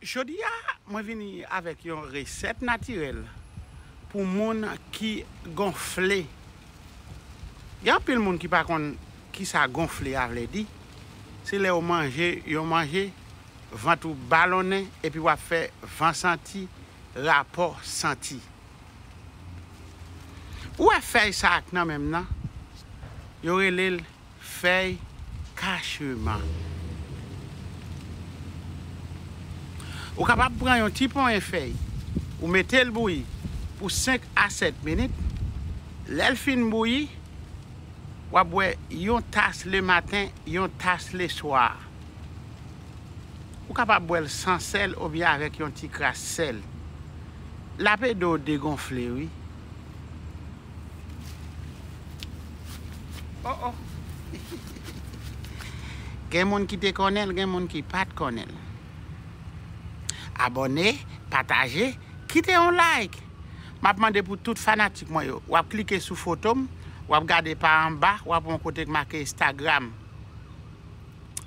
Jodi a mwen vini avèk yon resèt natirèl pou moun ki gonfle. Gen anpil moun ki pa konn kisa gonfle a vle di, se lè ou manje yon manje vant ou balonnen epi wap fè van santi, rapò santi. Ou wè fèy sa ak nan menm nan, yo relel Fèy kacheman. Ou kapab pran yon ti ponyen fèy, ou mete l bouyi pou 5 a 7 minit, lè l fin bouyi, w ap bwè yon tas lematen, yon tas leswa. Ou kapab bwè l san sèl oubyen avèk yon ti kras sèl. L ap ede w degonfle wi. Oh oh Gen moun ki te konnenl gen moun ki pat konnenl Abòne pataje kite yon like Map mande pou tout fanatik mwen yo wap klike sou fotom wap gade pa anba wap wè yon kote ki make Instagram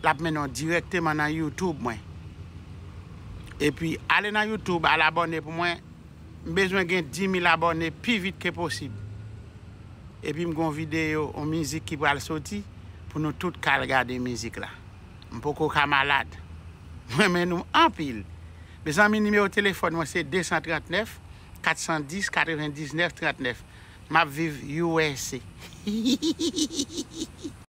lap mennen w dirèkteman nan YouTube mwen epi ale nan YouTube al abòne pou mwen M bezwen gen 10000 abòne pi vit ke posib epi m gen yon videyo yon mizik ki pral soti pou nou tout ka al gade mizik la m poko ka malad m renmen nou anpil mezanmi nimewo telefòn mwen se 239 410 99 39 map viv usa hihihihihi.